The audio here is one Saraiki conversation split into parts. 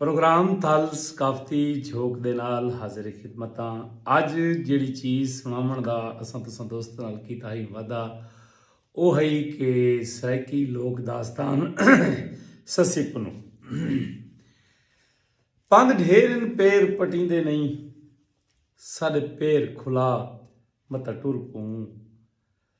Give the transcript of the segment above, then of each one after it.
پروگرام تھل ثقافتی جھوک دے نال حاضر خدمتاں اج جیڑی چیز سناون دا اساں تساں دوست نال کیتا ہی وعدہ او ہئی کہ سرائیکی لوک داستان سسی پنو پند ڈھیر ان پیر پٹیندے نہیں ساڈے پیر کھلا متا ٹر پوں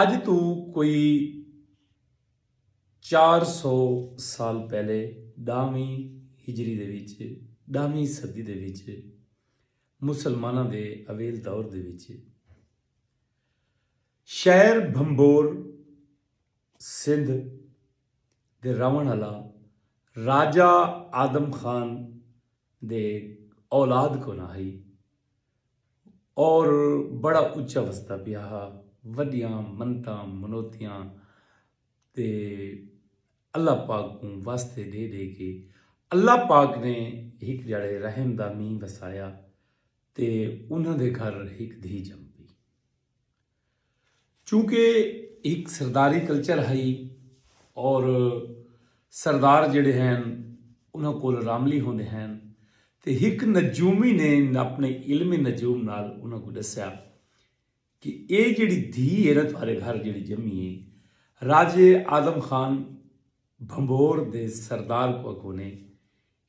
اڄ توں کوئی چار سو سال پہلے ݙاہویں ہجری دے وچ، ݙاہویں صدی دے وچ، مسلماناں دے اویل دور دے وچ، شہر بھمبھور سندھ دے رہوݨ آلا راجہ آدم خان دے اولاد کوں نہ ہئی۔ اور بڑا اچا وستا پیا ہا وڈیاں منتاں منوتیاں تے اللہ پاک کو واسطے ڈے ڈے کے اللہ پاک نے ہک جڑے رحم دا مین وسایا تے انہاں دے گھر ہک دھی جم پی چونکہ ہک سرداری کلچر ہئی اور سردار جڑے ہیں انہاں کول راملی ہوندے ہیں تے ہک نجومی نے اپنے علم نجوم نال انہاں کو ڈسیا کہ اے جڑی دھی ہے نا تھارے گھر جڑی جمی ہے راجے آدم خان بھمبور دے سردار کو اکونے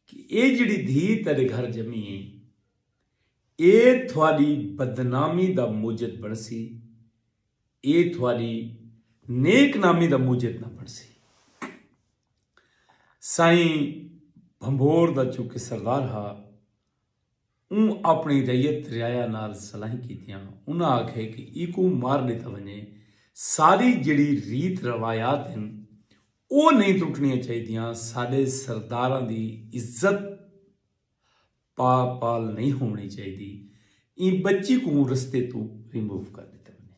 کہ اے جیڑھی دھی تیڈے گھر جمی اے اے تھوڈی بدنامی دا موجد بنڑسی اے تھوڈی نیک نامی دا موجد نہ بنڑسی۔ سائیں بھنبھور دا چونکہ سردار ہا۔ اوں اپنڑی رعیت رعایا نال صلاحیں کیتیاں۔ انہاں آکھے کہ ایکوں مار ڈتا ونجے۔ ساری جیڑھی ریت روایات ہن او نئیں ٹرٹنڑیاں چاہیدیاں۔ ساڈے سرداراں دی عزت پا پال نئیں ہوونڑی چاہیدی۔ ایں بچی کوں رستے توں ریموو کر ڈتا ونجے۔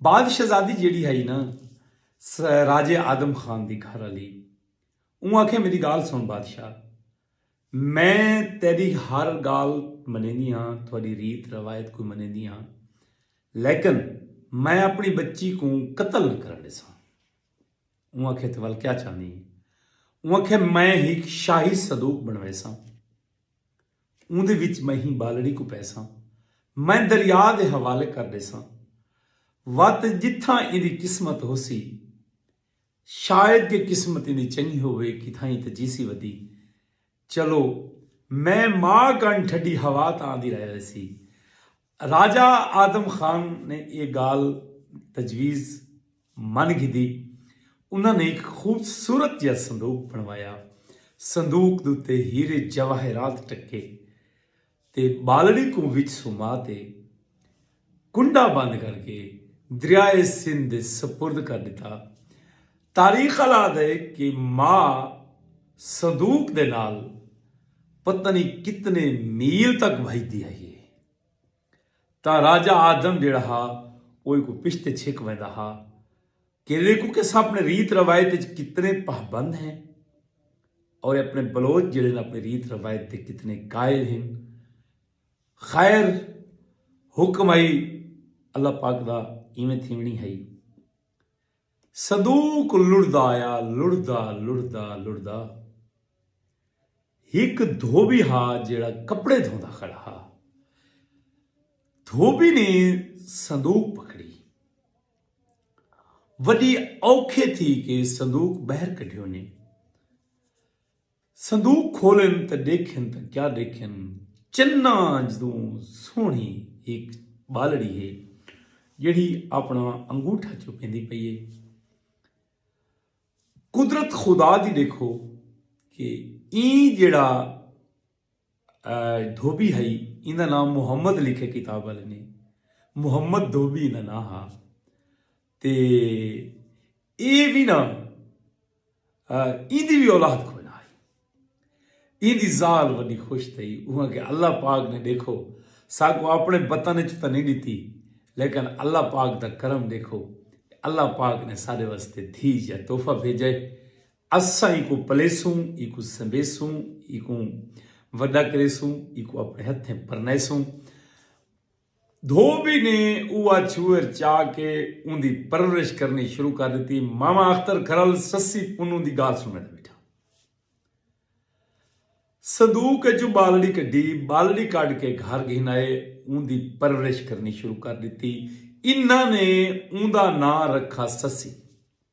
بعد شہزادی جیڑھی ہئی نا راجے آدم خان دی گھر آلی اوں آکھے میڈی گالھ سنڑ بادشاہ میں تیڈی ہر گالھ منیندی ہاں تھوڈی ریت روایت کوں منیندی ہاں لیکن میں اپنی بچی کوں قتل نہ کرن ڈیساں اوں آکھے تھے ول کیا چاہندی ہیں اوں آکھے میں ہیک شاہی صدوق بنویساں اوں دے وچ میں ہی بالڑی کو پیساں میں دریا دے حوالے کر ڈیساں وت جتھاں ایندی قسمت ہوسی شاید کہ قسمت ایندی چنگی ہووے کتھائیں تاں جیسی ودی چلو میں ماء کن ٹھڈی ہوا تاں آندی رہ ویسی۔ راجہ آدم خان نے ایہ گالھ تجویز من گھدی۔ انہاں نے ہک خوبصورت جیہا صندوق بنڑوایا۔ صندوق دے اتے ہیرے جواہرات ٹکے۔ تے ٻالڑی کوں وچ سما تے کنڈا بند کر کے دریائے سندھ دے سپرد کر ݙتا۔ تاریخ آلا آہدا ہے کہ ماء صندوق دے نال پتہ نی کتنے میل تک بھڄدی ہئی ہے تاں راجہ آدم جیڑھا ہا او ایکوں پشتے چھک ویندا ہا کہ دیکھو کہ اساں اپنے ریت روایت اچ کتنے پابند ہیں اور اپنے بلوچ جڑے نا اپنے ریت روایت تے کتنے قائل ہیں خیر حکم آئی اللہ پاک دا ایویں تھیونی ہائی صدوق لڑدا آیا لڑدا لڑدا لڑدا ہک دھوبی ہا جڑا کپڑے دھوندا کھڑا ہا دھوبی نے صندوق پکڑی وݙی اوکھے تھی کے صندوق ٻہر کڈھیونیں۔ صندوق کھولن تاں ݙیکھن تاں کیا ݙیکھن چناں جتوں سوہݨی ہک ٻالڑی ہے جیڑھی آپݨا انگوٹھا چوکیندی پئی ہے۔ قدرت خدا دی ݙیکھو کے ایں جیڑھا دھوبی ہئی ایندا ناں محمد لکھے کتاب والے نے محمد دھوبی ایندا ناں ہا تے اے بھی نا ایندی بھی اولاد کوئی نہ آئی ایندی زال وڈی خوش تھی اوہاں کہ اللہ پاک نے دیکھو ساکو اپنے بطن وچ تاں نہیں ڈتی لیکن اللہ پاک دا کرم دیکھو اللہ پاک نے سارے واسطے دھی یا تحفہ بھیجے اساں اینکوں پلیسوں، اینکوں سنبھیسوں، اینکوں وڈا کریسوں، اینکوں اپنے ہتھیں پرنائیسوں۔ دھوبی نے اوہ چھوہر چا کے اوندی پرورش کرنی شروع کر ڈتی۔ ماما اختر کھرل سسی پنوں دی گالھ سنڑ تے بیٹھا۔ صندوق اچوں بالڑی کڈھی، بالڑی کڈھ کے گھر گھن آئے، اوندی پرورش کرنی شروع کر ڈتی۔ انہاں نے اوندا ناں رکھا سسی۔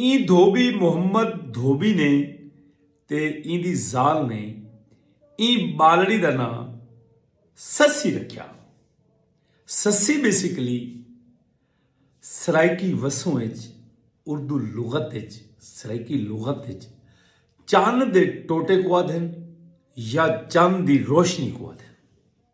ایں دھوبی محمد دھوبی نے تے ایں دی ذال نے ایں ٻالڑی دا ناں سسی رکھیا۔ سسی بیسیکلی سرائیکی وسوں اچ اردو لغت اچ سرائیکی لغت اچ چن دے ٹوٹے کوں آدھن یا چن دی روشنی کوں آدھن۔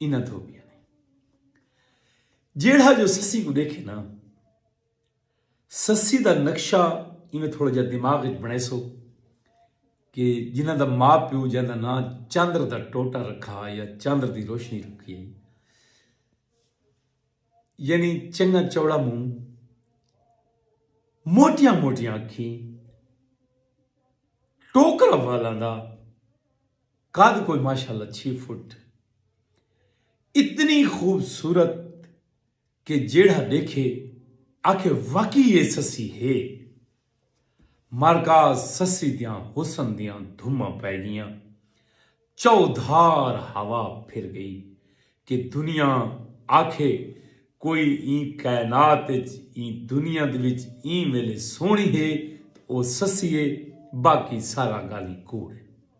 انہاں تھو پیا نے جیڑھا جو سسی کو دیکھے نا سسی دا نقشہ ایویں تھوڑا جا دماغ وچ بنے سو کہ جنہاں دا ماں پیو جہاں دا نام چندر دا ٹوٹا رکھا یا چندر دی روشنی رکھی یعنی چنگا چوڑا منہ موٹیاں موٹیاں اکھیں ٹوکرا والا دا قد کوئی ماشاءاللہ چھی فٹ۔ اتنی خوبصورت کہ جیڑھا ڈیکھے آکھے واقعی اے سسی ہے۔ مارکاز سسی دیاں حسن دیاں دھماں پے گیاں۔ چؤ دھار ہوا پھر گئی کہ دنیا آکھے کوئی ایں کائنات اچ ایں دنیا دے وچ ایں ویلے سوہنی ہے تاں او سسی ہے باقی سارا گالھیں کوڑ ہے۔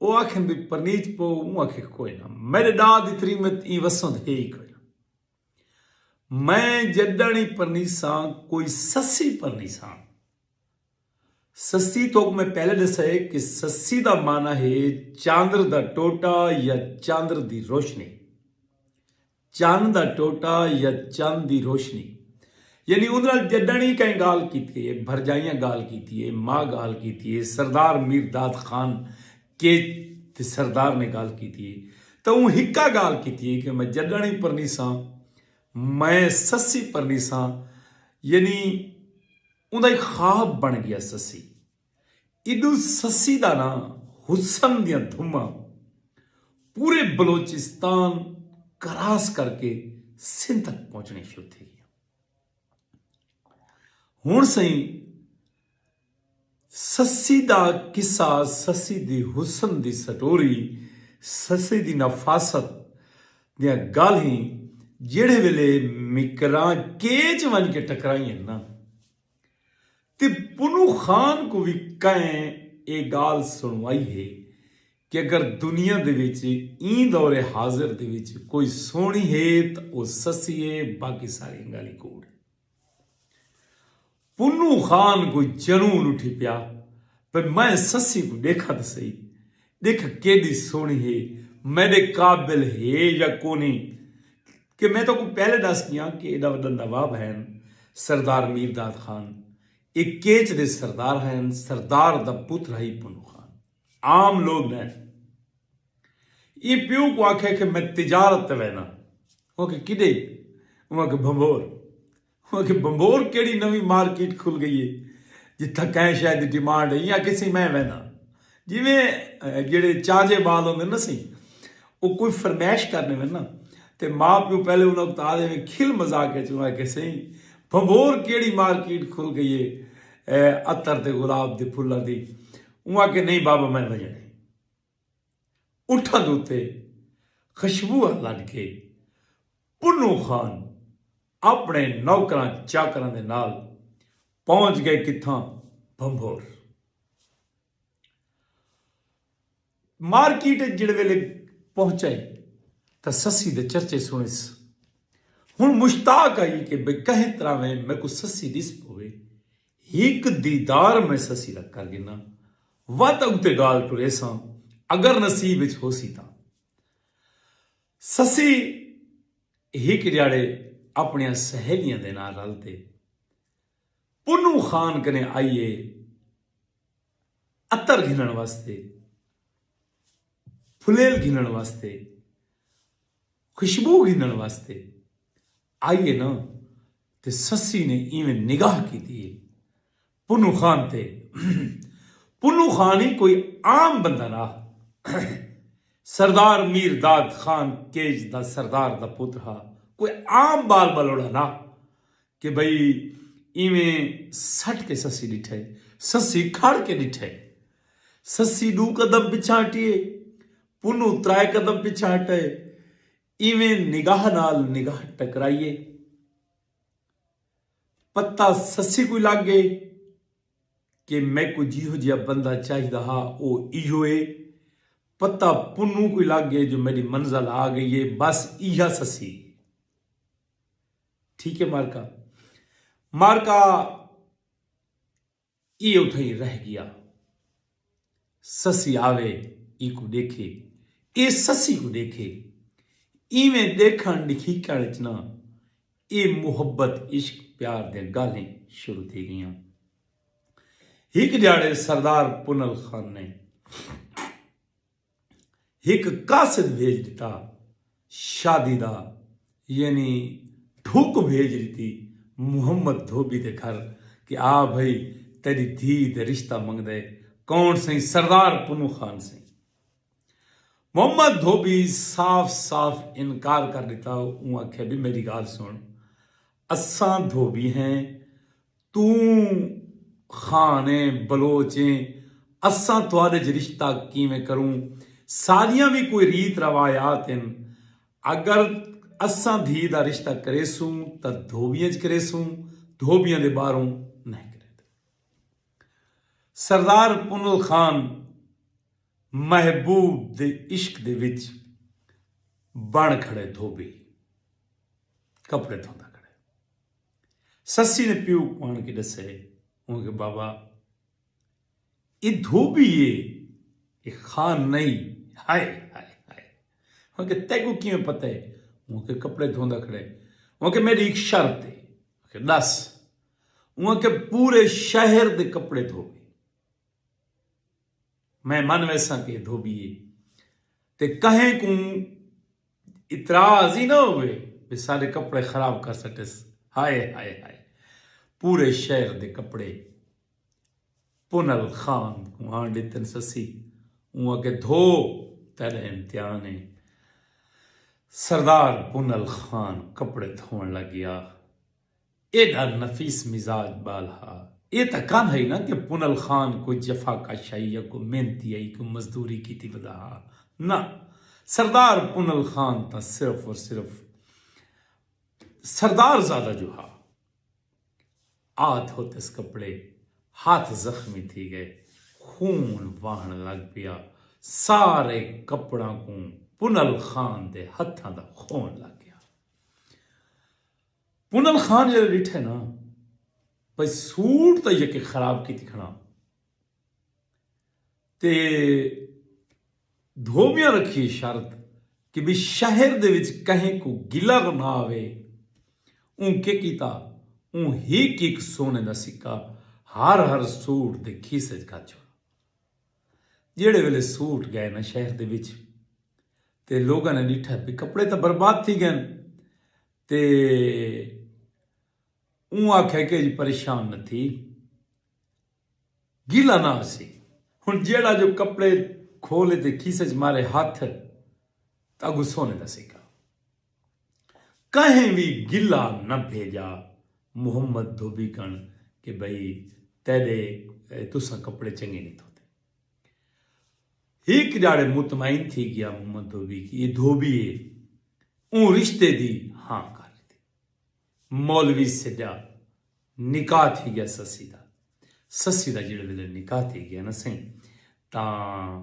او آکھن وی پرنیت پو اوں آکھے کوئے نہ میڈے ڈاد دی تریمت ایں وسند ہے ای کوئے نہ میں جڈن ای پرنیساں کوئی سسی پرنیساں سسی توک میں پہلے ڈسئے کہ سسی دا معنی ہے چاندر دا ٹوٹا یا چاندر دی روشنی چن دا ٹوٹا یا چن دی روشنی یعنی اوندے نال جݙݨ ای کئیں ڳالھ کیتی اے، بھرجائیاں ڳالھ کیتی اے، ماء ڳالھ کیتی اے، سردار میر داد خان کیچ تے سردار نے ڳالھ کیتی اے تاں اوں ہکا ڳالھ کیتی اے کہ میں جݙݨ ای پرنیساں میں سسی پرنیساں یعنی اوندا ہک خواب بݨ ڳیا سسی۔ ایڈو سسی دا ناں حسن دیاں دھماں پورے بلوچستان کراس کر کے سندھ تک پہنچنیاں شروع تھی گیاں ہن سئیں سسی دا قصہ سسی دی حسن دی سٹوری سسی دی نفاست دیاں گالہیں جیڑھے ویلے مکراں کیچ ونج کے ٹکرائیں نا تے پنوں خان کوں وی کئیں اے گالھ سنڑوائی ہے کہ اگر دنیا دے وچ ایں دور حاضر دے وچ کوئی سوہنڑی ہے تاں او سسی ہے باقی ساریاں گالھیں کوڑ ہن۔ پنوں خان کوں جنون اٹھی پیا پئے میں سسی کوں ڈیکھاں تاں سہی ڈکھ کیڈی سوہنی ہے میڈے قابل ہے یا کونی کہ میں تہاکوں پہلے ڈس گیاں کہ ایڈا وڈا نواب ہین سردار میر داد خان اے کیچ دے سردار ہین سردار دا پتر ہئی پنو خان عام لوگ نے ایں پیو کوں آکھیا کہ میں تجارت تے وینا اوں آکھیا کڈے اوں آکھیا بھنبھور انہاں آکھیا بھنبھور کیڑھی نویں مارکیٹ کھل گئی ہے جتھاں کہیں شے دی ڈیمانڈ ہے ایں آکھیسی میں وینداں جیویں جیہڑے چاجے بال ہوندے نا سی او کوئی فرمائش کرنے وین نا تے ماء پیو پہلے انہاں کوں تاں ایویں کھل مذاق وچ انہاں آکھیسی بھنبھور کیڑھی مارکیٹ کھل گئی ہے عطر تے گلاب دے پھلاں دی اوں آکھیا نہیں بابا میں ونجݨے۔ اٹھاں دے اتے خشبواں لڈ کے پنوں خان اپنے نوکراں چاکراں دے نال پہنچ گئے کتھاں بھنبھور مارکیٹ اچ جڑے ویلے پہنچئے تاں سسی دے چرچے سنس ہن مشتاق آئی کہ بھئی کہیں طرح ویں میکوں سسی ڈس پوے ہک دیدار میں سسی دا کر گھناں۔ وت اگتے گالھ ٹریساں اگر نصیب اچ ہوسی تاں۔ سسی ہک ڈیاڑے اپنیاں سہیلیاں دے نال رل تے پنوں خان کنے آئی اے عطر گھنن واسطے پھلیل گھنن واسطے خوشبو گھنن واسطے آئی اے نا تے سسی نے ایویں نگاہ کیتی اے پنوں خان تے پنوں خان ای کوئی عام بندہ نا ہا سردار میر داد خان کیج دا سردار دا پتر ہا کوئی عام بال بلوڑا نا کہ بھئی ایویں سٹ کے سسی ڈٹھے سسی کھڑ کے ڈٹھے سسی ڈو قدم پچھا ہٹیے پنوں ترائے قدم پچھا ہٹے ایویں نگاہ نال نگاہ ٹکرائیے۔ پتہ سسی کوں لگ گئے کہ میکوں جیہو جیہا بندہ چاہیدا ہا او ایہو اے۔ پتہ پنوں کوں لگ گئے جو میڈی منزل آ گئی اے بس ایہا سسی۔ ٹھیک اے مارکا۔ مارکا۔ ایہ اتھاں ای رہ گیا۔ سسی آوے ایکوں ڈیکھے۔ ایہ سسی کوں ڈیکھے۔ ایویں ڈیکھن ڈکھیکن اچ نہ ایہ محبت عشق پیار دیاں گالھیں شروع تھی گئیاں۔ ہک ڈھیاڑے سردار پنل خان نے۔ ہک قاصد بھیج ݙتا، شادی دا یعنی ڈھک بھیج ݙتی محمد دھوبی دے گھر کہ آ بھئی تیݙی دھی دے رشتہ منگدے کون سئیں سردار پنوں خان سئیں محمد دھوبی صاف صاف انکار کر ݙتا اوں آکھیا بی میݙی گالھ سݨ اساں دھوبی ہیں توں خان ایں بلوچ ایں اساں تہاڈے اچ رشتہ کیویں کروں ساڈیاں وی کوئی ریت روایات ہن اگر اساں دھی دا رشتہ کریسوں تاں دھوبیاں اچ کریسوں دھوبیاں دے باہروں نئیں کریندے سردار پنل خان محبوب دے عشق دے وچ بن کھڑے دھوبی کپڑے دھوندا کھڑے۔ سسی نے پیو کوں آن کے ڈسے اوں کہ بابا اے دھوبی ہے اے خان نہیں ہائے ہائے ہائے اوں کہ تے کو کیویں پتہ ہے اوں کے کپڑے دھوندا کھڑے اوں کہ میری ایک شرط ہے کہ دس اوں کہ پورے شہر دے کپڑے دھوے میں من ویساں کہ دھوبی ہے تے کہیں کوں اتراض ہی نہ ہووے بھئی ساڈے کپڑے خراب کر سٹیس ہائے ہائے ہائے پورے شہر دے کپڑے پنل خان کوں آن ڈتن سسی اوں آکھے دھو تیڈا امتحان ہے سردار پنل خان کپڑے دھوون لگیا۔ ایڈھا نفیس مزاج ٻال ہا۔ اے تاں کم ہئی نہ کہ پنل خان کوئی جفا کش ہئی یا کوئی محنتی ہئی کوئی مزدوری کیتی ودا ہا۔ نہ سردار پنل خان تاں صرف اور صرف سردار زادہ جو ہا۔ آ دھوتس کپڑے ہاتھ زخمی تھی گئے۔ خون واہݨ لڳ پیا۔ سارے کپڑاں کوں پنل خان دے ہتھاں دا خون لڳ گیا۔ کنل خان جیڑھے ڈٹھے نا بھئی سوٹ تے یکے خراب کیتی کھڑا تے دھوبیاں رکھیے شرط کہ بھی شہر دے وچ کہیں کو گلہ نہ آوے اوں کے کیتا اوں ہک ہک سونے دا سکہ ہر ہر سوٹ دے کھیسے وچ گھا چھوڑا جیڑھے ویلے سوٹ گئے نا شہر دے وچ تے لوگاں نے ڈٹھا بھی کپڑے تے برباد تھی گئے تے اوں آکھیا کہ اج پریشان نہ تھی گیلا نہ آسی ہن جیہڑا جو کپڑے کھولے تے کھیسے اچ مارے ہتھ تاں اگوں سونے دا سکہ کہیں وی گیلا نہ بھیجا محمد دھوبی کن کہ بھئی تیڈے تساں کپڑے چنگے نی دھوتے۔ ہک جاڑے مطمئن تھی گیا محمد دھوبی کی اے دھوبی اے اوں رشتے دی ہاں کر ڈتی مولوی سڈا نکاح تھی گیا سسی دا سسی دا جیڑے ویلے نکاح تھی گیا نا سائیں تاں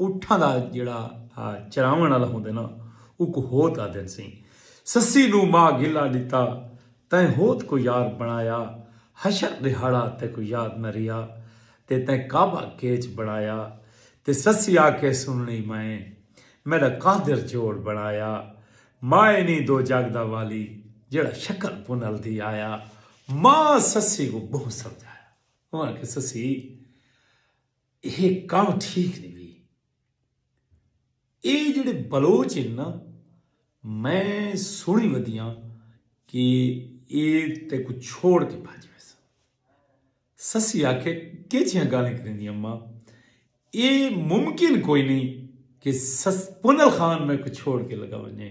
اٹھاں دا جیڑھا چراوݨ آلا ہوندے نا اوکوں ہوت آدھن سئیں سسی نوں ماء گھلا ݙتا تیں ہوت کوں یار بݨایا حشر ݙیہاڑا تیکوں یاد نہ ریہا تے تیں کعبہ کیچ بݨایا تے سسی آکھے سنݨی مائیں میݙا قادر جوڑ بݨایا ماء نی دو جڳ دا والی جیڑھا شکل پنل دی آیا ماء سسی کوں ٻہوں سمجھایا اوں آکھے سسی ایہہ کم ٹھیک نی وی۔ ایہہ جیہڑے بلوچ ہن نا میں سنڑی ودیاں کہ ایہہ تیکوں چھوڑ کے بھج ویسن۔ سسی آکھے کیجھیاں گالھیں کریندی اماں ایہہ ممکن کوئی نی کہ پنل خان میکوں چھوڑ کے لگا ونجے۔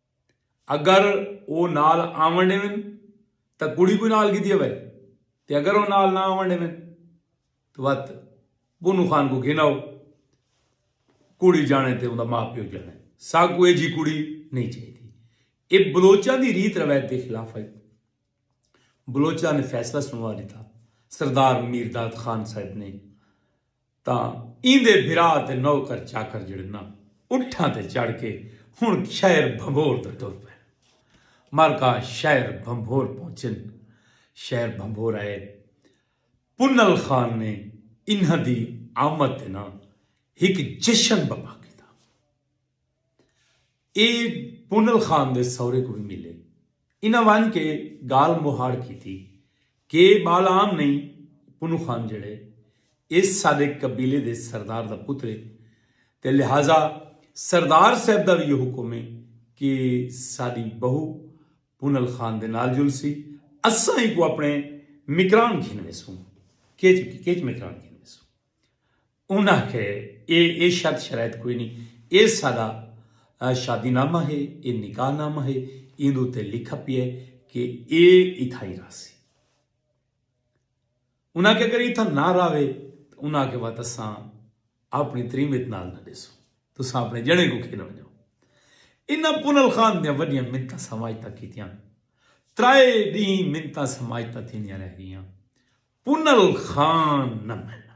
اگر او نال آون ڈیون تاں کڑی کوں نال گھدی آوے تے اگر او نال نہ آون ڈیون تاں وت بھنو خان کوں گھن آو کڑی جانے تے اوندا ماء پیو جانے ساکوں ایجھی کڑی نہیں چاہیدی اے بلوچاں دی ریت روایت دے خلاف ہئی بلوچاں نے فیصلہ سنوا ڈتا سردار میرداد خان صاحب نے تاں ایندے بھرا تے نوکر چاکر جیڑھے ناں اٹھاں تے چڑھ کے ہن شہر بھنبھور دا ٹر پئن۔ مرکا شہر بھنبھور پہنچن۔ شہر بھنبھور آئے۔ پنل خان نے انہاں دی آمد تے ناں ہک جشن بپا کیتا۔ اے پونل خان دے سورے کوں وی ملے۔ انہاں ونج کے گالھ مہاڑ کیتی۔ کے بال عام نئیں پونو خان جیڑھے ایس ساڈے قبیلے دے سردار دا پتر اے تے لہذا سردار صاحب دا وی ایہو حکم اے کے ساڈی بہو پونل خان دے نال جلسی اساں ایکوں اپنے مکران گھن ویسوں۔ کیچ مکران گھن ویسوں۔ انہاں آکھیا اے اے شرط شرائط کوئی نی اے ساڈا شادی نامہ ہے اے نکاح نامہ ہے ایندے اتے لکھا پیا ہے کہ اے اتھاں ہی راہسی۔ انہاں آکھیا اگر اتھاں نہ راہوے تاں انہاں آکھیا وت اساں آپنڑی تریمت نال نہ ڈیسوں تساں آپنڑے جنڑے کوں کھیلنڑ ڈیو۔ انہاں پنل خان دیاں وڈیاں منتاں سماجتاں کیتیاں۔ ترائے ڈینہہ منتاں سماجتاں تھیندیاں رہ گئیاں۔ پنل خان نہ منا۔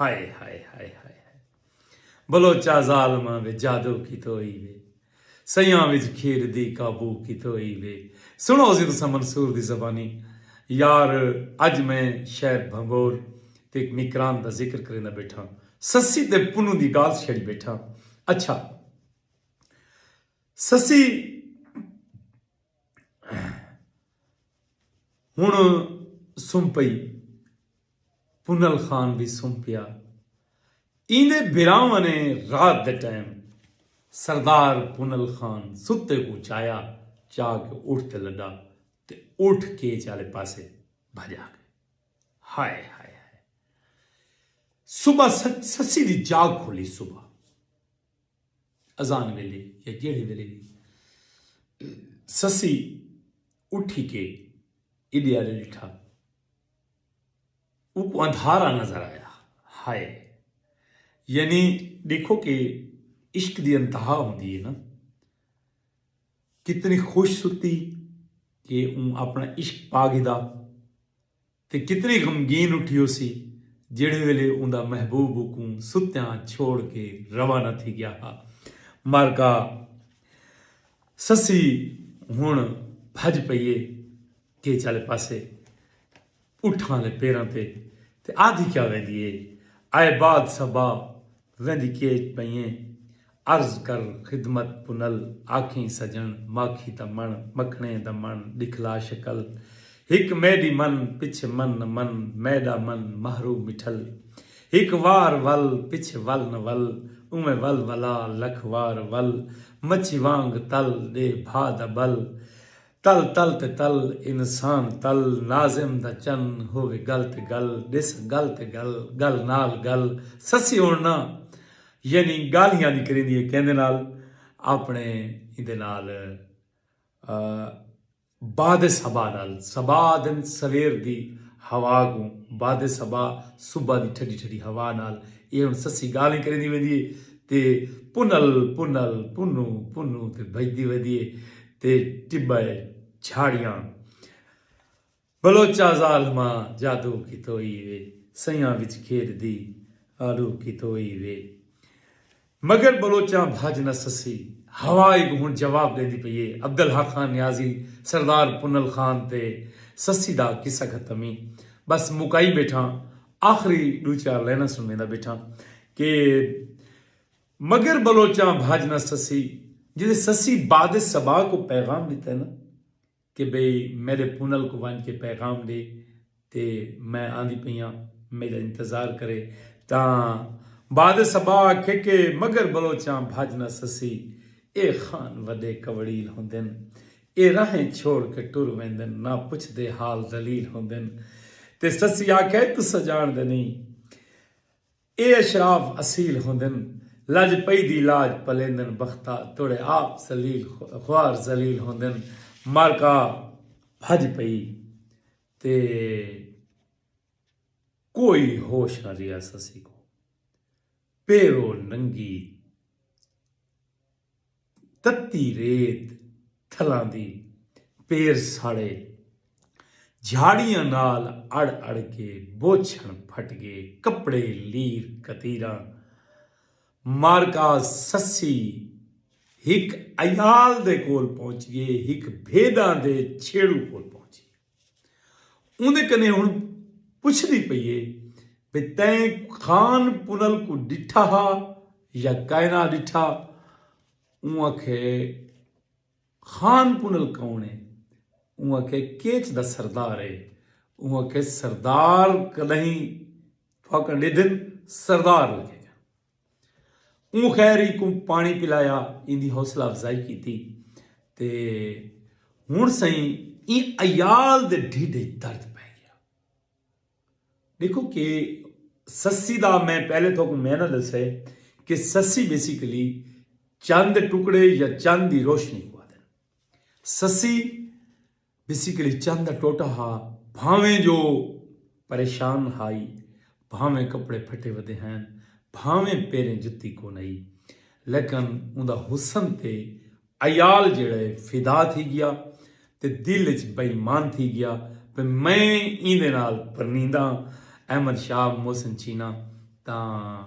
ہائے ہائے ہائے ہائے ہائے بلوچا ظالماں وچ جادو کیتو ہئی وے سیاں وچ کھیر دی قابو کیتو ہئی وے سنڑو سی تساں منصور دی زبانی یار اج میں شہر بھنگور تے اک مکران دا ذکر کریندا بیٹھاں سسی تے پنوں دی گالھ چھیڑی بیٹھاں اچھا سسی ہن سم پئی پنل خان وی سم پیا۔ ایندے بھراواں نے رات دے ٹائم سردار پنل خان ستے کوں چایا چا کے اٹھ تے لڈا تے اٹھ کیچ آلے پاسے بھج آ گئے۔ ہائے ہائے ہائے۔ صبح سسی دی جاگ کھلی صبح اذان ویلے یا جیڑھے ویلے وی سسی اٹھی کے ایڈے آلے ڈٹھا۔ اوکوں اندھارا نظر آیا۔ ہائے۔ یعنی ڈیکھو کہ عشق دی انتہا ہوندی ہے نا۔ کتنی خوش ستی کہ اوں اپنا عشق پا گھدا۔ تے کتنی غمگین اٹھی ہوسی جیڑھے ویلے اوندا محبوب اوکوں ستیاں چھوڑ کے روانہ تھی گیا ہا۔ مارکا سسی ہن بھج پئیے۔ کیچ آلے پاسے اٹھاں آلے پیراں تے تے آدھی کیا ویندی اے آئے باد صبا ویندی کیچ پئیں عرض کر خدمت پنل آکھیں سجن ماکھی دا مݨ مکھݨیں دا مݨ ݙکھلا شکل ہک میݙی من پچھے من نہ من میݙا من مہرو مٹھل ہک وار ول پچھے ول نہ ول اونویں ول ولا لکھ وار ول مچھی وانگ تل ݙے بھا دا ٻل تل تل تے تل انسان تل ناظم دا چن ہووے گل تے گل ݙس گل تے گل گل نال گل سسی ہݨ نہ یعنی ڳالھیاں دی کریندی ہے کیندے نال آپݨے ایندے نال باد صبا نال صبا آہدن سویر دی ہوا کوں باد صبا صبح دی ٹھڈی ٹھڈی ہوا نال ایہ ہݨ سسی ڳالھیں کریندی ویندی ہے تے پنل پنل پنوں پنوں تے بھڄدی ویندی ہے تے ٹٻہ ء جھاڑیاں بلوچاں ظالماں جادو کیتوئی وے سیاں وچ گھیر دی آلو کیتوئی وے مگر بلوچاں بھج نہ سسی ہوا اگ ہن جواب ڈیندی پئی اے عبدالحق خان نیازی سردار پنل خان تے سسی دا قصہ ختم ای بس مکائی بیٹھاں آخری ڈو چار لائناں سنویندا بیٹھاں کہ۔ مگر بلوچاں بھج نہ سسی جدے سسی باد صبا کو پیغام ڈتا نا کہ بھئی میڈے پونل کو ونج کے پیغام ڈے تے میں آندی پئی آں میڈا انتظار کرے تاں باد صبا آکھے کہ مگر بلوچاں بھج نہ سسی اے خان وڈے کوڑیل ہوندن اے راہیں چھوڑ کے ٹر ویندن نہ پچھ دے حال دلیل ہوندن تے سسی آکھے تساں جانڑ دے نئی اے اشراف اصیل ہوندن لج پئی دی لاج پلیندن بختا توڑے آپ ذلیل خوار ذلیل ہوندن معرکہ بھج پئی تے کوئی ہوش نہ ریہس اسیکوں پیرو ننگی تتی ریت تھلاں دی پیر ساڑے جھاڑیاں نال اڑ اڑ کے بوچھن پھٹ گے کپڑے لیر کتیراں مارکا سسی ہک عیال دے کول پہنچ گے ہک بھیڈاں دے چھیڑو کول پہنچ گے۔ اوندے کنے ہن پچھدی پئی اے بھئی تیں خان پنل کوں ڈٹھا ہا یا کائنا ڈٹھا اوں آکھے خان پنل کون اے اوں آکھے کیچ دا سردار اے اوں آکھے سردار کدہیں تھاکاں ڈیدھن سردار لگے گا اوں خیر ای کوں پانی پلایا ایندی حوصلہ افزائی کیتی تے ہن سائیں این ایال دے ڈھیڈے درد پہ گیا دیکھو کہ سسی دا میں پہلے تو کو میں نہ دسے کہ سسی بیسیکلی چند ٹکڑے یا چند دی روشنی کو آدھے سسی بیسیکلی چن دا ٹوٹا ہا بھانویں جو پریشان ہائی بھانویں کپڑے پھٹے ودے ہین بھانویں پیریں جتی کونئی لیکن اوندا حسن تے عیال جیڑھا ہے فدا تھی گیا تے دل اچ بے ایمان تھی گیا بھئی میں ایندے نال پرنینداں احمد شاہ محسن چینا تاں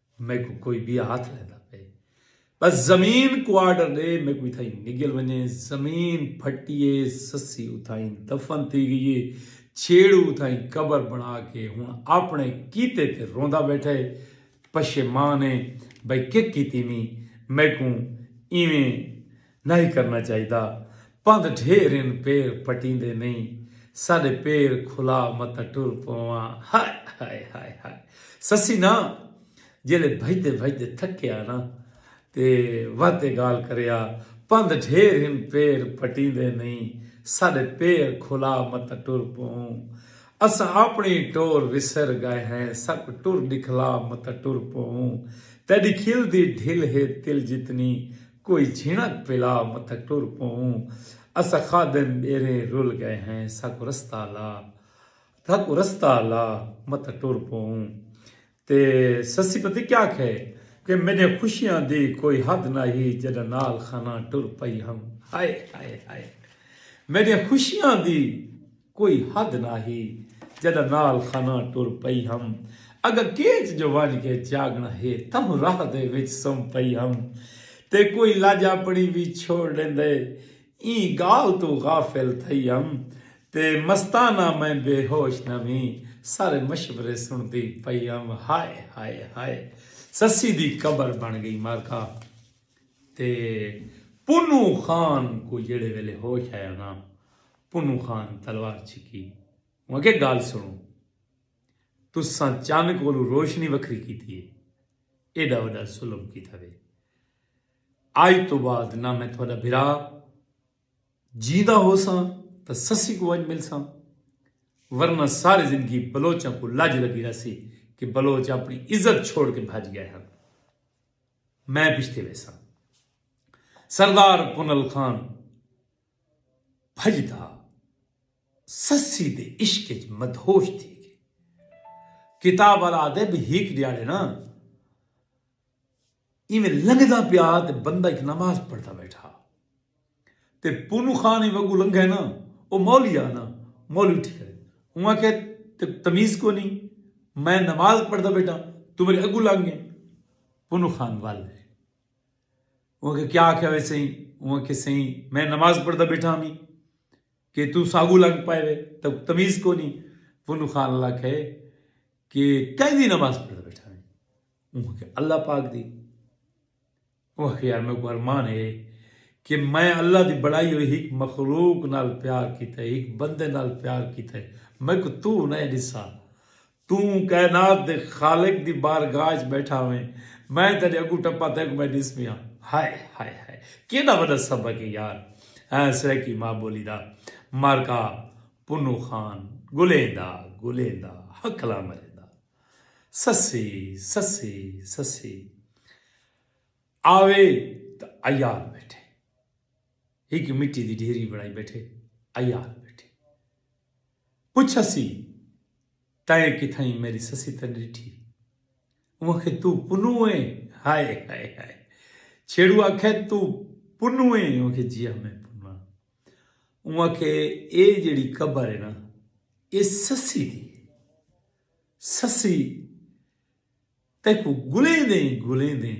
میکوں کوئی بیا ہاتھ لیندا پئے بس زمین کو آرڈر دے میکوں اتھائیں نگل ونجے زمین پھٹیے سسی اتھائیں دفن تھی گئیے چھیڑو اتھائیں قبر بنا کے ہن اپنے کیتے تے روندا بیٹھے پشیمان ہے بھئی کیا کیتی میں میکوں ایویں نہی کرنا چاہیدا پندھ ڈھیر ہن پیر پٹیندے نہی ساڈے پیر کھلا متاں ٹر پواں ہائے ہائے ہائے ہائے سسی نا جیلے بھجدے بھجدے تھکیا نا تے واتے گال کریا پندھ ڈھیر ہن پیر پٹیندے نہی ساڈے پیر کھلا متاں ٹر پوں اساں اپنڑی ٹور وسر گئے ہیں ساکوں ٹر ڈکھلا متاں ٹر پوں تیڈی کھل دی ڈھل ہے تل جتنی کوئی جھنک پلا متھک ٹر پووں اساں خادم ٻیریں رل ڳئے ہیں ساکوں رستہ لا ساکوں رستہ لا متھک ٹر پووں تے سسی پتہ کیا کھے کہ میݙے خوشیاں دی کوئی حد نہ ہی جݙاں نال خاناں ٹر پئی ہم ہائے ہائے ہائے میݙے خوشیاں دی کوئی حد نہ ہی جڈاں نال خاناں ٹر پئی ہم اگاں کیچ جو ونج کے چاگنہ ہے تہوں راہ دے وچ سم پئی ہم تے کوئی لج اپنی وی چھوڑ ڈیندے ایں گال توں غافل تھئی ہم تے مستانہ میں بے ہوش نہ وی سارے مشورے سنڑدی پئی ہم ہائے ہائے ہائے سسی دی قبر بن گئی مارکا تے پنوں خان کوں جیڑھے ویلے ہوش آیا نہ پنوں خان تلوار چھکی اوں آکھیا گالھ سنڑو تساں چن کولوں روشنی وکھری کیتی ہے ایڈا وڈا ظلم کیتا وے اج توں بعد نہ میں تہاڈا بھرا جیندا ہوساں تاں سسی کوں ونج ملساں ورنہ ساری زندگی بلوچاں کوں لج لگی رہسی کہ بلوچ اپنی عزت چھوڑ کے بھج گئے ہن میں پچھتے ویساں سردار پنل خان بھڄدا سسی دے عشق اچ مدہوش تھی ڳئے۔ کتاب آلا آہدے بھئی ہیک ݙیہاڑے نا ایویں لنگھدا پیا تے بندہ ہیک نماز پڑھدا ٻیٹھا تے پونو خان ایویں اگوں لنگھے نا او مولوی ہا نا مولوی اٹھی کھڑے اوں آکھیا تیکوں تمیز کونی میں نماز پڑھدا ٻیٹھا توں میݙے اڳوں لنگھ ڳئیں پونو خان ول اوہ آکھیا کیا آکھیا وے سئیں اوہ آکھیا سئیں میں نماز پڑھدا بیٹھا ہمی کہ تو ساگو لگ پائے وے تو تمیز کو نہیں پنو خان اللہ کہے کہ کہیں دی نماز پڑھدا بیٹھا ہمی اوہ آکھیا اللہ پاک دی اوہ آکھیا یار میں کو ارمان ہے کہ میں اللہ دی بڑائی ہوئی ایک مخلوق نال پیار کیتا ہے ایک بندے نال پیار کیتا ہے میں کو تو نہ ڈسا توں کائنات دے خالق دی بارگاہ اچ بیٹھا ہوئیں، میں تیڈے اگوں ٹپاں تیکوں میں ڈس پیاں۔ ہائے ہائے ہائے کیڈا وڈا سبق اے یار ایں سرائیکی ماء بولی دا معرکہ پنوں خان گلیندا گلیندا ہکھلاں مریندا سسی سسی سسی آوے تاں ایال بیٹھے ہک مٹی دی ڈھیری بنڑائی بیٹھے ایال بیٹھے۔ پچھسی تئیں کتھائیں میڈی سسی تاں ڈٹھی اوں آکھے توں پنوں ایں ہائے ہائے ہائے چھیڑو آکھے توں پنوں ایں اوں آکھے جی ہاں میں پنوں ہاں اوں آکھے اے جیڑی قبر ہے نا اے سسی دی ہے سسی تیکوں گلیں دیں گلیں دیں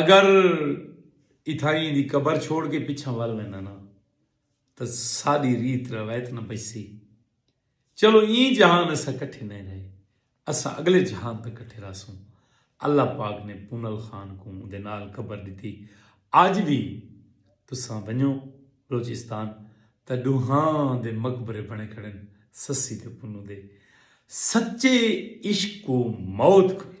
اگر اتھائیں ایں دی قبر چھوڑ کے پچھاں ول وینداں نا تاں ساڈی ریت روایت نہ بچسی۔ چلو ایں جہان اساں کٹھے نئیں رہے اساں اگلے جہان تاں کٹھے رہسوں۔ اللہ پاک نے پونل خان کوں اوندے نال قبر ڈتی۔ اج وی تساں ونجو بلوچستان تاں ڈوہاں دے مقبرے بنے کھڑن سسی تے پونو دے۔ سچے عشق کوں موت کوئنی۔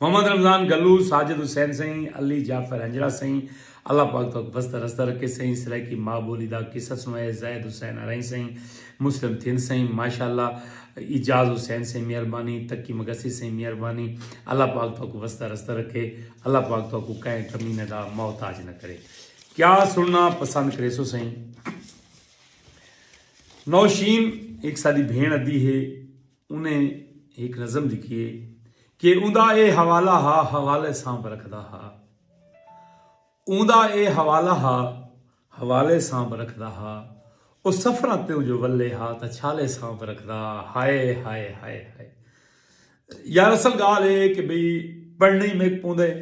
محمد رمضان گلو، ساجد حسین سئیں، علی جعفر ہنجرا سئیں، اللہ پاک تہاکوں وسدا رسدا رکھے سئیں، سرائیکی ماء بولی دا قصہ سنوائے، زاہد حسین ارائیں سئیں، مسلم تھند سئیں، ماشاءاللہ، اعجاز حسین سئیں مہربانی، تقی مگسی سئیں مہربانی، اللہ پاک تہاکوں وسدا رسدا رکھے، اللہ پاک تہاکوں کہیں کمینے دا محتاج نہ کرے۔ کیا سنڑنا پسند کریسو سئیں؟ نوشین ہک ساڈی بھینڑ ادی ہے۔ انہیں ہک نظم لکھی ہے کہ اوندا اے حوالہ ہا حوالے سانپ رکھدا ہا اوندا اے حوالہ ہا حوالے سانپ رکھدا ہا او سفراں تے جو ولے ہا تا چھالے سانپ رکھدا ہائے ہائے ہائے ہائے یار اصل گال ہے کہ بھئی پڑھنی میں پوندے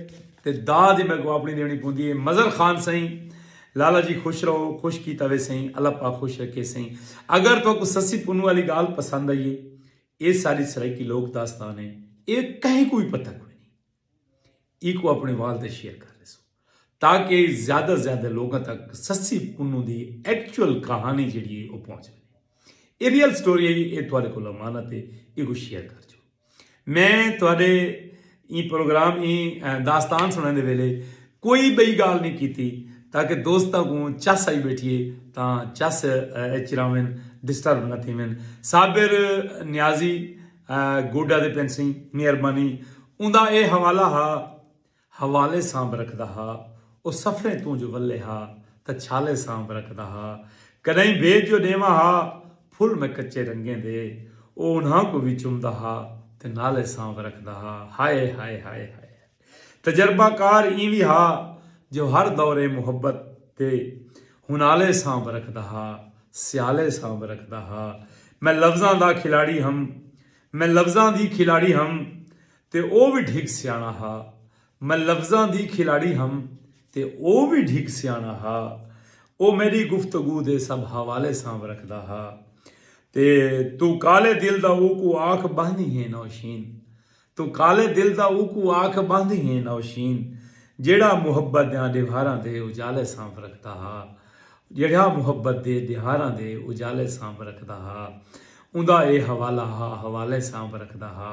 تے داد میں کو اپنی دینی پوندی ہے مظہر خان سائیں لالا جی خوش رہو خوش کیتا ویسئیں اللہ پاک خوش رکھے سئیں اگر تہاکوں سسی پنوں آلی گالھ پسند آئی ہے اے ساڈی سرائیکی لوک داستان ہے اے کہیں کوں وی پتہ کوئی نہیں ایکوں اپنے وال تے شیئر کر ریسو تاکہ زیادہ زیادہ لوگاں تک سسی پنوں دی ایکچول کہانی جڑی ہے او پہنچ وینے اے ریئل سٹوری ہے اے تہاڈے کول امانت ہے ایکوں شیئر کر جو میں تہاڈے ایں پروگرام ایں داستان سنن دے ویلے کوئی بئی گال نہیں کیتی تاکہ دوستاں کوں چس آئی بیٹھیے تاں چس اچ راون ڈسٹرب نہ تھیون صابر نیازی گوڈا دے پنسیں مہربانی اوندا اے حوالہ ہا حوالے سانب رکھدا ہا او سفریں توں جو ولے ہا تاں چھالے سانب رکھدا ہا کݙاہیں بھیت جو ݙیواں ہا پھل میں کچے رنگیں دے او انہاں کوں وی چمدا ہا تے نالے سانب رکھدا ہا ہائے ہائے ہائے ہائے تجربہ کار ایں وی ہا جو ہر دوریں محبت دے ہونالے سانب رکھدا ہا سیالے سانب رکھدا ہا میں لفظاں دا کھلاڑی ہم میں لفظاں دی کھلاڑی ہم تے او وی ڈھگ سیاݨا ہا۔ میں لفظاں دی کھلاڑی ہم تے او وی ڈھگ سیاݨا ہا۔ او میݙی گفتگو دے سب حوالے سانبھ رکھدا ہا۔ تے توں کالے دل دا اوکوں آکھ ٻہندی ہیں نوشین۔ توں کالے دل دا اوکوں آکھ ٻہندی ہیں نوشین۔ جیڑھا محبت دیاں ݙیوہاراں دے اجالے سانبھ رکھدا ہا۔ جیڑھا محبت دے ݙیوہاراں دے اجالے سانبھ رکھدا ہا۔ اوندا اے حوالہ ہا حوالے سانبھ رکھدا ہا۔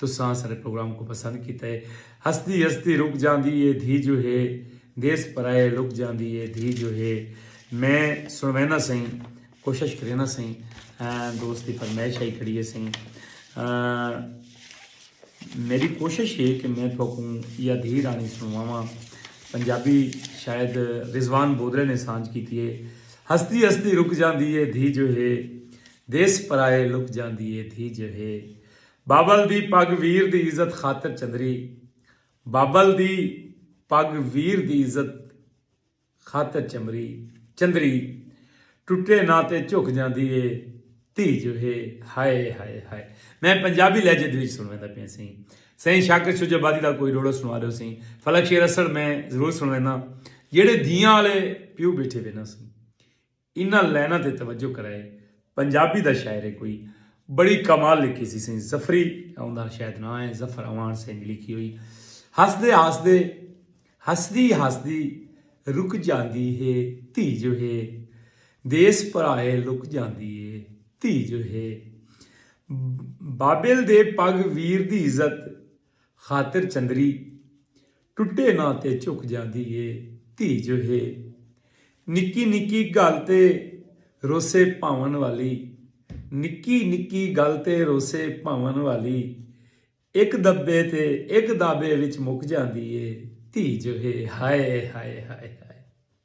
تساں اساݙے پروگرام کوں پسند کیتا ہے ہسدی ہسدی رک جاندی ہے دھی جو ہے دیس پرائے لک جاندی ہے دھی جو ہے میں سݨوینداں سئیں کوشش کرینداں سئیں دوست دی فرمائش آئی کھڑی ہے سئیں میری کوشش ہے کہ میں تھوکوں یا دھی رانی سنواواں پنجابی شاید رضوان بودرے نے سانج کیتی ہے ہسدی ہسدی رک جاندی ہے دھی جو ہے دیس پرائے لک جاندی ہے دھی جو ہے بابل دی پڳ ویر دی عزت خاطر چندری بابل دی پڳ ویر دی عزت خاطر چمری چندری ٹٹے نہ تے جھک جاندی اے دھی جو ہے ہائے ہائے ہائے میں پنجابی لہجے دے وچ سنویندا پیا سی سائیں شاکر شجاع آبادی دا کوئی روڑا سنوا دیو سی فلک شیر اسڑ میں ضرور سنوینا جیڑے دھیاں والے پیو بیٹھے وینا سی انہاں لائناں تے توجہ کرائے پنجابی دا شاعر ہے کوئی بڑی کمال لکھی سی سئیں ظفری اوندا شاید ناں ہے ظفر اعوان سئیں دی لکھی ہوئی ہسدے ہسدے ہسدی ہسدی رک جاندی ہے دھی جو ہے دیس پرائے لک جاندی ہے دھی جو ہے بابل دے پگ ویر دی عزت خاطر چندری ٹٹے نہ تے چک جاندی اے دھی جو ہے نکی نکی گل تے روسے پاون والی نکی نکی گل تے روسے پاون والی اک دبے تے اک دابے وچ مک جاندی اے دھی جو ہے ہائے ہائے ہائے ہائے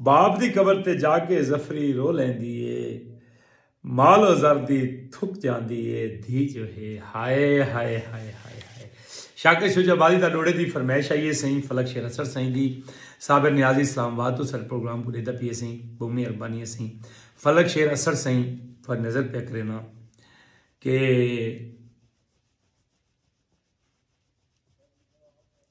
باپ دی قبر تے جا کے ظفری رو لیندی اے مال و زر دی تھک جاندی اے دھی جو ہے ہائے ہائے ہائے ہائے ہائے شاکر شجاع آبادی دا ڈوڑے دی فرمائش آئی اے سائیں فلک شیر اسر سائیں دی صابر نیازی اسلام آباد تو سر پروگرام کو ڈیدا پی اے سائیں بہت مہربانی اے سائیں فلک شیر اسر سائیں پر نظر پہ کرینا کہ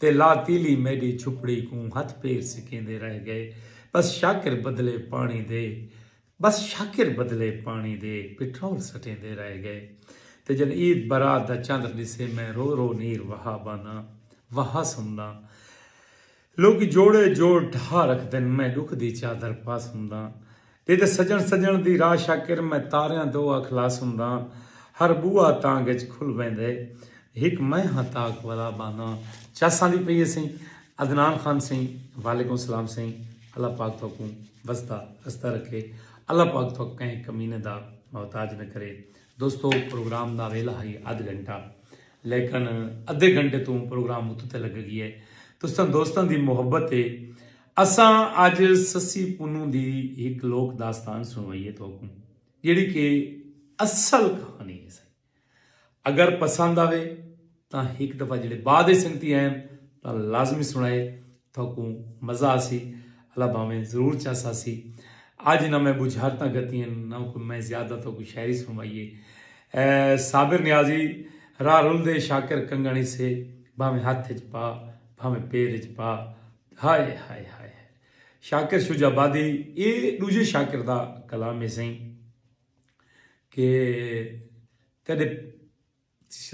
تے لا تیلی میڈی چھپڑی کوں ہتھ پیر سکیندے رہ گئے بس شاکر بدلے پانڑی دے بس شاکر بدلے پانڑی دے پٹرول سٹیندے رہ گئے تے جن عید برات دا چندر ڈسے میں رو رو نیر وہا بانا وہا سمداں لوکی جوڑے جوڑ ڈھا رکھدن میں ڈکھ دی چادر پا سمداں تیݙے سڄݨ سڄݨ دی راہ شاکر میں تاریاں دو اکھ لا سنداں ہر ٻوہا تانگ اچ کھل ویندے ہک میں ہاں تاک والا بھاناں چس آندی پئی ہے سئیں عدنان خان سئیں وعلیکم سلام سئیں اللہ پاک تہاکوں وسدا ہسدا رکھے اللہ پاک تہاکوں کہیں کمینے دا محتاج نہ کرے دوستو پروگرام دا ویلا ہئی ادھ گھنٹہ لیکن ادھے گھنٹے توں پروگرام اتتے لگے گی ہے تساں دوستاں دی محبت ہے اساں اج سسی پنوں دی ہک لوک داستان سنوائیے تہاکوں جیڑھی کہ اصل کہانی ہے سائیں اگر پسند آوے تاں ہک دفعہ جڑے بعد ہی سنگتی آئے تاں لازمی سنائے تہاکوں مزہ آسی اللہ بھاویں ضرور چاسا سی آج نہ میں بجھارتاں گتی ہیں نہ کوئی میں زیادہ تو کوئی شاعری سنوائیے صابر نیازی راہ رول دے شاکر کنگانی سے بھاویں ہاتھ اچ پا بھاویں پیر اچ پا ہائے ہائے ہائے ہائے شاکر شجاع آبادی اے ڈوجھے شاکر دا کلام ہے سائیں کہ تیڈے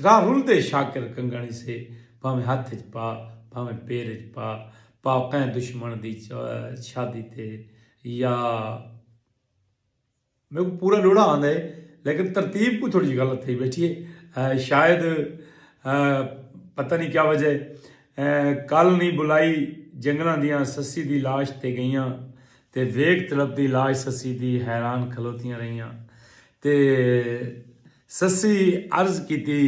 راہ رلدے شاکر کنگن سے بھاویں ہتھ اچ پا بھاویں پیر اچ پا پا کئیں دشمن دی شادی تے یا میکوں پورا ݙوہڑا آندا ہے لیکن ترتیب کوں تھوڑی جی غلط تھئی بیٹھی ہے شاید پتہ نہیں کیا وجہ ہے کل نہیں بلائی جنگلاں دیاں سسی دی لاش تے گئیاں تے ویکھ طلب دی لاش سسی دی حیران کھلوتیاں رہیاں تے سسی عرض کیتی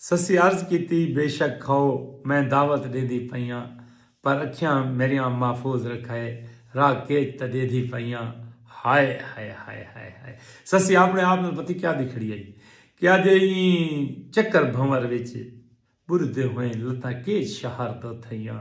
سسی عرض کیتی، بے شک کھؤ، میں دعوت ݙیندی پئیاں، پر اکھیاں میݙیاں محفوظ رکھئے، راہ کیچ تاں ݙیندی پئیاں۔ ہائے ہائے ہائے ہائے ہائے۔ سسی آپݨے آپ نال پتی کیاہدی کھڑی ہئی کہ اڄ ایں چکر بھنور وچ ٻݙدے ہوئیں لتاں کیچ شہر دو تھئیاں۔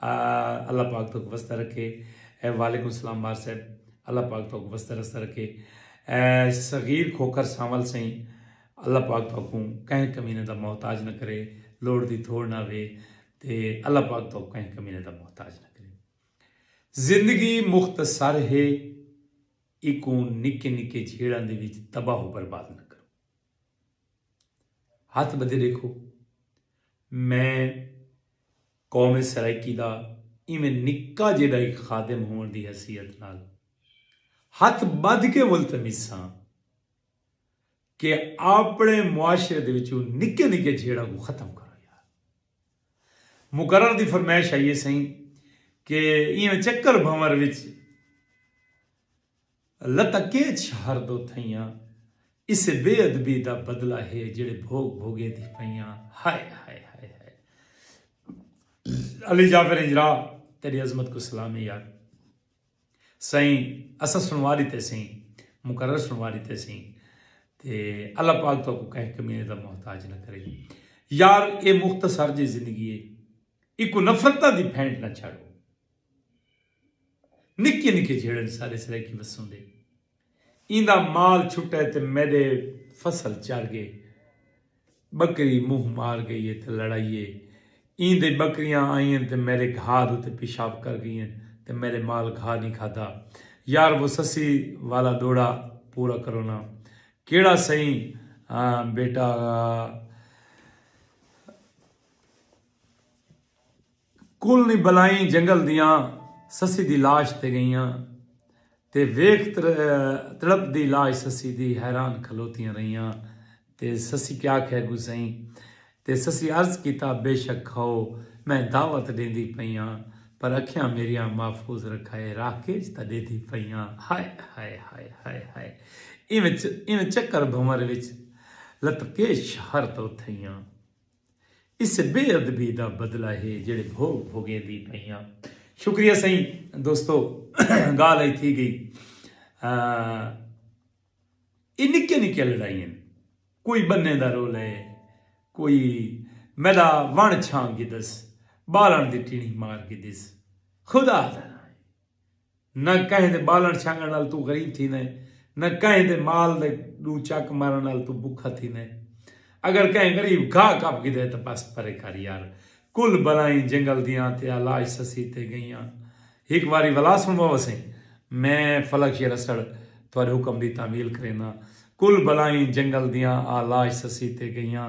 اللہ پاک توک وستہ رکھے اے وعلیکم السلام مار صاحب اللہ پاک توک وستہ رستہ رکھے اے صغیر کھوکر سانول سائیں اللہ پاک توکوں کہیں کمینے دا محتاج نہ کرے لوڑ دی تھوڑ نہ وے تے اللہ پاک توک کہیں کمینے دا محتاج نہ کرے زندگی مختصر ہے ایکوں نکے نکے جھیڑاں دے وچ تباہ و برباد نہ کرے ہتھ بدھے ڈیکھو میں قوم سرائیکی دا ایویں نکا جیڈا ای خادم ہوون دی حیثیت نال ہتھ بدھ کے ملتمس ہاں کے آپڑے معاشرے دے وچوں نکے نکے جھیڑاں کوں ختم کرو یار مقرر دی فرمائش ہئی اے سئیں کے ایویں چکر بھنور وچ لتکیچ ہر دو تھئیاں اسے بے ادبی دا بدلہ ہے جیڑھے بھوگ بھوگے دی پئیاں ہائے ہائے ہائے ہائے علی جعفر ہجرا تیری عظمت کو سلام ہے یار سائیں اسا سنوا لیتے سائیں مقرر سنوا لیتے سائیں تے اللہ پاک تو کو کہیں کمینے دا محتاج نہ کرے یار اے مختصر جی زندگی ہے ایکو نفرتہ دی پھینٹ نہ چھڑو نکے نکے جھیڑن سارے سرائیکی وسوں دے ایں دا مال چھٹے تے میڈے فصل چر گئے بکری منہ مار گئی ہے تے لڑائیے ایں دے بکریاں آئین تے میرے گھا دو تے پیشاب کر گئی ہیں تے میرے مال گھا نہیں کھادا یار وہ سسی والا دوڑا پورا کرونا کیڑا سہی بیٹا کل نی بلائیں جنگل دیاں سسی دی لاش تے گئیاں تے ویکھ تڑپ دی لاش سسی دی حیران کھلوتیاں رہیاں تے سسی کیا آکھیا گسئیں تے سسی عرض کیتا بے شک کھاؤ میں دعوت ڈیندی پئی آں پر اکھیاں میریاں محفوظ رکھائے راہ کیج تاں ڈیدھی پئی آں ہائے ہائے ہائے ہائے ہائے ایویں چکر بھنور وچ لتکیش شہر توں تھئیاں۔ اس بے ادبی دا بدلہ ہے جیڑھے بھوگ بھوگیندی پئیاں۔ شکریہ سئیں دوستو گالھ ائی تھی گئی اے نکیاں نکیاں لڑائی ہن کوئی بننے دا رولا ہے کوئی میڈا ونڑ چھان گھدس بالن دی ٹیڑھی مار گھدس خدا دا ناں ہے۔ نہ کہیں دے ٻالݨ چھنگݨ نال توں غریب تھیندیں، نہ کہیں دے مال دے ݙو چک مارݨ نال توں ٻکھا تھیندیں۔ اگر کہیں غریب گھاہ کپ گھدے تاں بس پرے کر یار۔ کل بلائیں جنگل دیاں تے آلاش سسی تے ڳئیاں۔ ہک واری ولا سݨوا وسیں۔ میں فلک شیر اسڑ تہاݙے حکم دی تعمیل کرینداں۔ کل بلائیں جنگل دیاں آلاش سسی تے ڳئیاں۔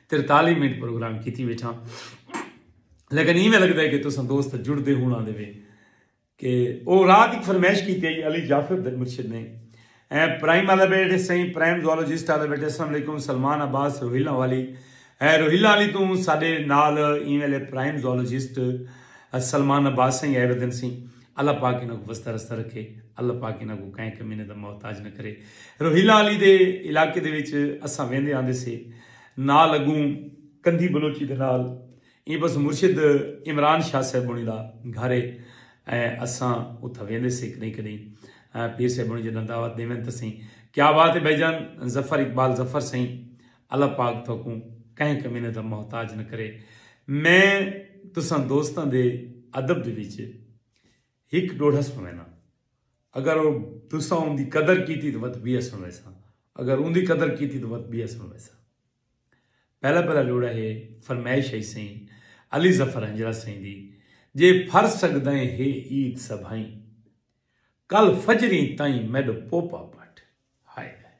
ترتالی منٹ پروگرام کیتی بیٹھا لیکن ایویں لگتا ہے کہ تساں دوست جڑتے ہونا دے وے کہ وہ رات ایک فرمائش کی تھی علی جعفر مرشد نے اے پرائم والے بیٹھے سائیں پرائم زولوجسٹ والے بیٹھے السلام علیکم سلمان عباس روہیلا والی اے روہیلا والی تو سارے نال ایویں لے پرائم زولوجسٹ سلمان عباس سائیں اے ردن سائیں اللہ پاک انہوں کو وستہ رستہ رکھے اللہ پاک انہوں کو کہیں کمینے دا محتاج نہ کرے روہیلا والی دے علاقے دے وچ اساں ویندے آندے سے نال اگوں کندھی بلوچی دے نال ایں پاسوں مرشد عمران شاہ صاحبݨی دا گھر ہے ائیں اساں اتھاں ویندے سے کݙہیں کݙہیں پیر صاحبݨی جݙاں دعوت ݙیون تاں سئیں کیا بات ہے بھائی جان ظفر اقبال ظفر سئیں اللہ پاک تہاکوں کہیں کمینے دا محتاج نہ کرے میں تساں دوستاں دے ادب دے وچ ہک ڈوڑھس پوینداں۔ اگر او تساں اوندی قدر کیتی تاں وت بی اسن ویساں۔ اگر اوندی قدر کیتی تاں وت بی اسن ویساں۔ پہلا پہلا ڈوڑھا ہے فرمائش ہئی سئیں علی ظفر ہنجرہ سئیں دی جے پھر سگدئیں ہے عید سبھئیں کل فجریں تئیں میڈو پوپا پٹ ہائے ہائے۔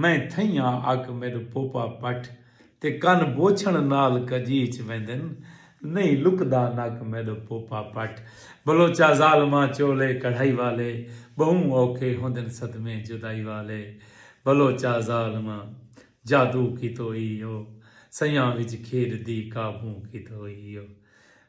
میں تھئیاں اک میڈ پوپا پٹھ تے کن بوچھن نال کجیچ ویندن نہیں لکدا نک میڈ پوپا پٹھ بلوچا ظالماں چولے کڑھائی والے بہوں اوکھے ہوندن صدمے جدائی والے بلوچا ظالماں جادو کیتو ای او سیاں وچ کھیڈ دی قابوں کیتو ای او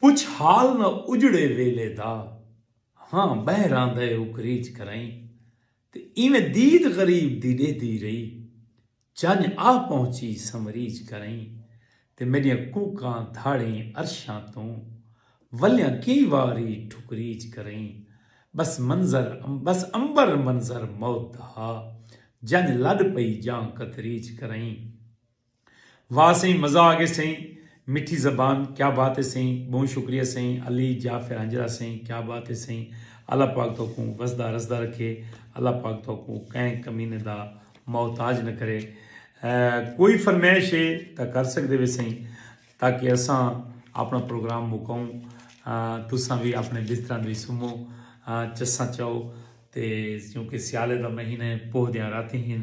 پچھ حال نہ اجڑے ویلے دا ہاں بہر آندا اے اوکریج کرائیں تے ایویں دید غریب دی ڈیہدی رہی چنج آ پہنچی سمریج کرائیں تے میڈیاں کوکاں دھاڑیں عرشاں توں ولیاں کئی واری ٹھکریج کرائیں بس منظر بس عنبر منظر موت دا ہا جنج لڈ پئی جاں کتریج کرائیں۔ واہ سئیں مزہ آگے سئیں مٹھی زبان کیا بات ہے سئیں بہوں شکریہ سئیں علی جعفر ہنجرا سئیں کیا بات ہے سئیں اللہ پاک توکوں وسدا رسدا رکھے اللہ پاک توکوں کہیں کمینے دا محتاج نہ کرے کوئی فرمائش ہے تا کر سکدے وے سئیں تاکہ اساں اپنا پروگرام مکاؤں تساں بھی اپنے بستراں دی سمو چساں چاؤ تے کیونکہ سیالے دا مہینے پوہ دیاں راتیں ہیں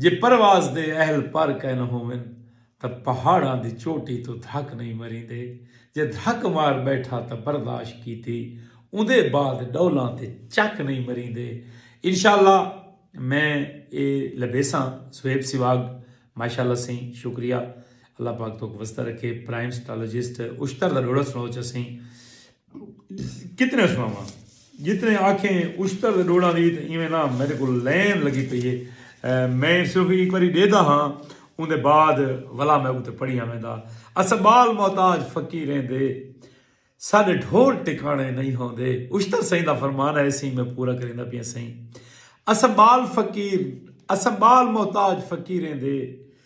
جے پرواز دے اہل پر کائنا ہوون تاں پہاڑاں دی چوٹی توں دھک نئیں مریندے۔ جے دھک مار ٻیٹھا تاں برداشت کیتی اوندے بعد ݙولاں تے چک نئیں مریندے۔ انشاء اللہ میں اے لبھیساں صہیب سواگ ماشاء اللہ سئیں شکریہ اللہ پاک توک وسدا رکھے پرائم سٹالوجسٹ اشتر دا ڈوڑا سنڑو چا سئیں۔ کتنے سناواں جتنے آکھیں اشتر دے ڈوڑاں دی تے ایویں نہ میڈے کول لین لگی پئی ہے میں صرف ہک واری ڈیدا ہاں اوندے بعد ولا میں اتے پڑھیاں ویندا اساں بال محتاج فقیریں دے ساڈے ڈھول ٹکانے نہیں ہوندے اشتر سئیں دا فرمان ہے سئیں میں پورا کریندا پیاں سئیں اساں بال فقیر اساں بال محتاج فقیریں دے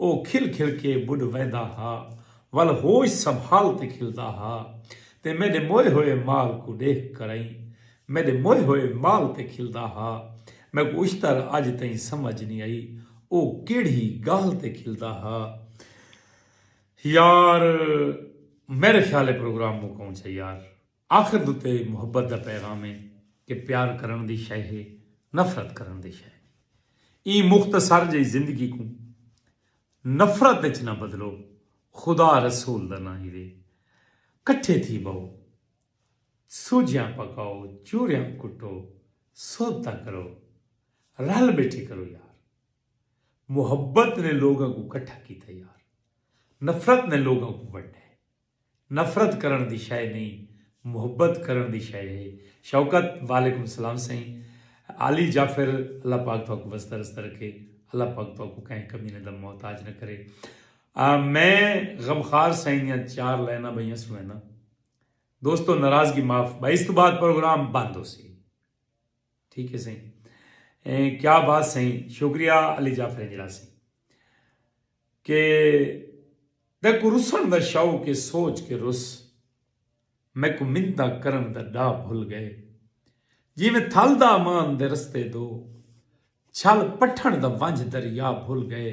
او کھل کھل کے ٻݙ ویندا ہا ول ہوش سنبھال تے کھلدا ہا تے میݙے موئے ہوئے مال کوں ݙیکھ کرئیں میݙے موئے ہوئے مال تے کھلدا ہا میکوں اشتر اڄ تئیں سمجھ نی آئی او کیڑھی ڳالھ تے کھلدا ہا یار میݙے خیال اے پروگرام مکاؤں چا یار۔ آخر دو تے محبت دا پیغام ہے کہ پیار کرݨ دی شئے ہے نفرت کرݨ دی شئے نی ایں مختصر جئی زندگی کوں نفرت اچ نہ بدلو خدا رسول دا ناں ہیوے کٹھے تھی بہو سوجھیاں پکاؤ چوریاں کٹو صحبتاں کرو رل بیٹھے کرو یار محبت نے لوگاں کوں کٹھا کیتا یار نفرت نے لوگاں کوں ونڈے۔ نفرت کرݨ دی شئے نئیں محبت کرݨ دی شئے ہے شوکت وعلیکم سلام سئیں عالی جعفر اللہ پاک تہاکوں وسدا رسدا رکھے اللہ پاک تہاکوں کہیں کمینے دا محتاج نہ کرے میں غمخار سئیں دیاں چار لائناں بئیاں سنڑینداں دوستو ناراضگی معاف بھائی اس تو بعد پروگرام بند ہو سی ٹھیک ہے سئیں کیا بات سئیں شکریہ علی جعفر جرا سئیں کہ تیکوں رسݨ دا شوق اے سوچ کے رس میکوں منتاں کرݨ دا ݙا بھل ڳئے جیویں تھل دا امان دے رستے دو چھل پٹھݨ دا ونجھ دریا بھل ڳئے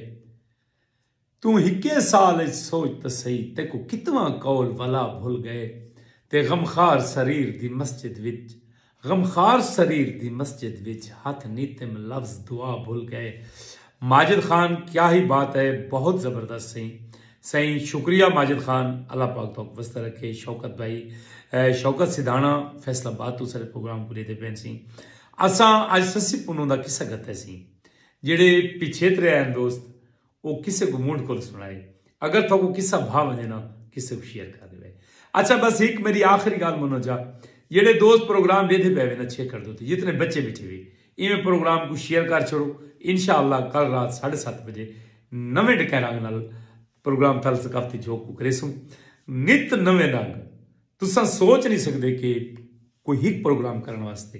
توں ہکے سال اچ سوچ تاں سئی تیکوں کتواں قول ولا بھل ڳئے تے غمخوار سریر دی مسجد وچ غمخوار سریر دی مسجد وچ ہتھ نیتم لفظ دعا بھل گئے ماجد خان کیا ہی بات ہے بہت زبردست سئیں سئیں شکریہ ماجد خان اللہ پاک توک وسدا رکھے شوکت بھائی شوکت سدھانا فیصل آباد تو سارے پروگرام کو لیتے پین سئیں اساں اج سسی پنوں دا قصہ گھتے سئیں جڑے پچھے ترے ہیں دوست او کسے کوں مونڈھ کول سنڑائے۔ اگر تہاکوں قصہ بھا ونجے نا کسے کوں شیئر کر ڈیوے۔ اچھا بس ہک میڈی آخری گالھ منو جا جیڑھے دوست پروگرام ڈیدھے پے وے نا چھیکڑ دو تے جتنے بچے بیٹھے وے ایویں پروگرام کوں شیئر کر چھوڑو انشاء اللہ کل رات ساڈھے ست بجے نویں ڈکیں رنگ نال پروگرام تھل ثقافتی جھوک کوں کریسوں نت نویں رنگ تساں سوچ نی سکدے کہ کوئی ہک پروگرام کرن واسطے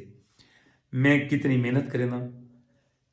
میں کتنی محنت کرینداں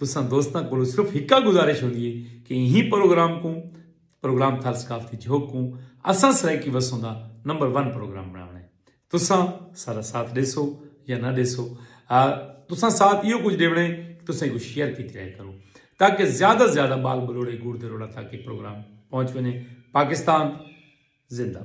تساں دوستاں کولوں صرف ہکا گزارش ہوندی ہے کہ ایں پروگرام کوں پروگرام تھال ثقافتی جھوک کوں اساں سرائیکی وسوں دا نمبر ون پروگرام بناونا ہے تساں سارا ساتھ ڈیسو یا نہ ڈیسو تساں ساتھ ایو کچھ ڈیونا ہے کہ تساں ایکو شیئر کیتی رہے کرو تاکہ زیادہ زیادہ بال بلوڑے گوڑ دے روڑا تاکہ پروگرام پہنچ ونے پاکستان زندہ